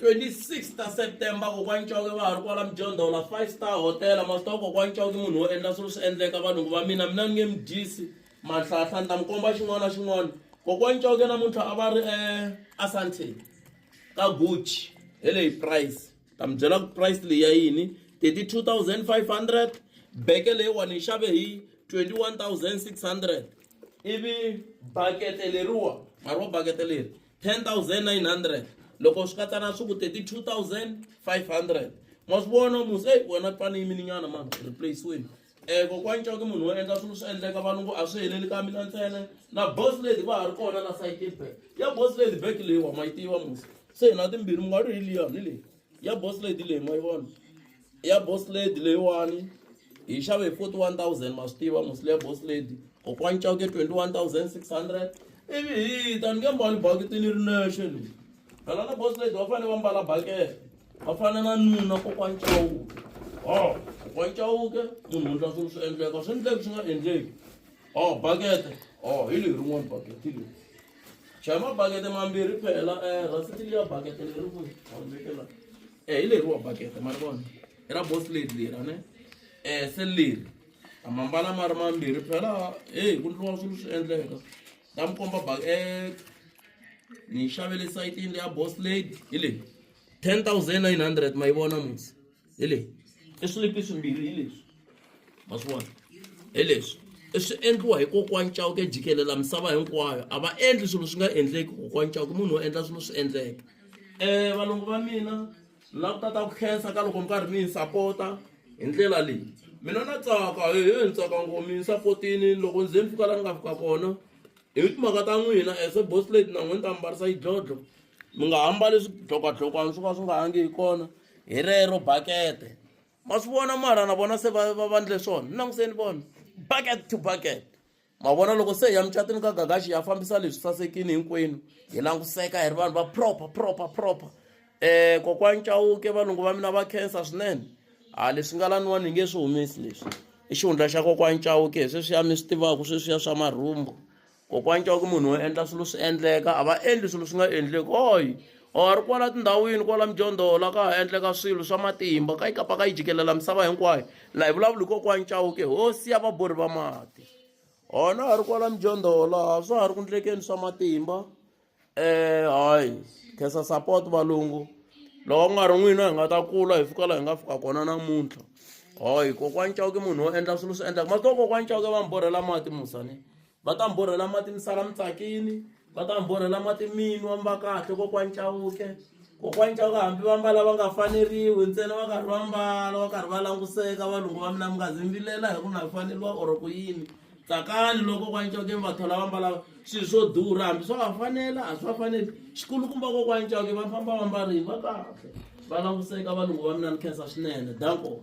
26 ta september kokwa ncoke va ha ri kwala mjondhola five star hotel masitawa kokwa ncoke munhu wo endla swilo swi endleka valungu va mina mina ni nge midyisi manhlahla ni ta mi komba xin'wana na xin'wana kokwa ncoke namuntlha a va ri um eh, asante ka gucci hi leyi price ta mi byela ku price leyi ya yini 32 500 beke leyiwani yi xave hi 21 600 ivi bakete leriwa mari wa bakete leri 10900 loko swi katsa na swi ku 32500 ma swi vona musi eyi wena ku fane yimininyana ma replaceweni um kokwani coke munhu wo endla swilo swi endleka valungu a swi heleli ka mina ntsena na boss lady va ha ri kona na sayitini back ya boss lady back leyiwa ma yi tiva musi se hi na timbirhi mi nga ri hi liyani leyi ya boss lady leyi ma yi vona ya boss lady leyiwani hi xave hi 41000 ma swi tiva musile ya boss lady kokwani cawuke 21600 ivi hi ta ni nge mbali bakiti ni ri nexe leyi phela na boss lady va fanele va mbala bakete va fana na nuna kokwani cawuke o kokwani cawuke munhu wundla swilo swi endleka swi endleki swi nga endleki o bakete o hi leyi rin'wani bakete hi leyi chaya mabakete mambirhi phela eh, rasiti liya bakete leri ku vekela um eh, hi leriwa bakete ma ri vona i ra bos leti lera ne um se leri amambala ma ri mambirhi phela heyi ku ndliwa swilo swi endleka ta mi komba bak e ni xavele sayitini leya bos lady hi leyi ten thousand nine hundred ma yi vona musi hi leyi i swilipi swimbirhi hi leswi ma swi vona hi leswi i swi endliwa hi kokwani cawuke jikelela misava hinkwayo a va endli swilo swi nga endleki kokwani cawuke munhu wo endla swilo swi endleka um valungu va mina la ku tata ku khensa ka loko mi karhi mi yi sapota hi ndlela leyi mina na tsaka hehe ni tsaka ngo mi yi sapotini loko ndzi ze ni fika la ni nga fika kona Hi timhaka ta n'wina as a boss lady na n'wina ta mbarisa yidlodlo mi nga ha mbali swidlokwadlokwana swo ka swi nga hangi hi kona hi rero bakete ma swi vona mara na vona se va va va ndle swona languseni vona bucket to bucket ma vona loko se hi ya mucatini ka gagaxi ya fambisa leswi sasekini hinkwenu hi languseka hi ri vanhu va proper proper proper Eh kokwani Chauke valungu va mina va khensa swinene a ah, leswi nga laniwani hi nge swi humesi leswi i xihundla xa kokwani Chauke sweswiya mi swi tivaka sweswiya swa marhumbu kokwani Chauke munhu wo endla swilo swi endleka a va endli swilo swi nga endleki oyi or oh, ri kwala tindhawini kwala mijondhola ka ha endleka swilo swa matimba ka yi kapa ka yi jikelela misava hinkwayo laha hi vulavula hi kokwani Chauke hosi ya vabori va mati hona ha ri kwala mijondhola swa ha ri ku ndlekeni swa matimba eh hayi khesa support valungu loko ku nga ri n'wina hi nga ta kula hi fika laha hi nga fika kona namuntlha hayi kokwani cawuke munhu wo endla swilo swi endlaka ma to kokwani cawuke va mi borhela mati musani va ta mi borhela mati mi sala mi tsakini va ta mi borhela mati minwa mi va kahle kokwani cawuke kokwani cawuke hambi va mbala va nga faneriwi ntsena va karhi va mbala va karhi va languseka valungu va mina mi nga zi mi vilela hi ku na faneriwa or ku yini tsakani loko kokwani cawukeni va thola va mbala swilo swo durha hambi swa va fanela a swi va faneli xikulukumba kokwani cawuke va famba va mbarile va kahle va languseka valungu va mina ni khensa swinene danko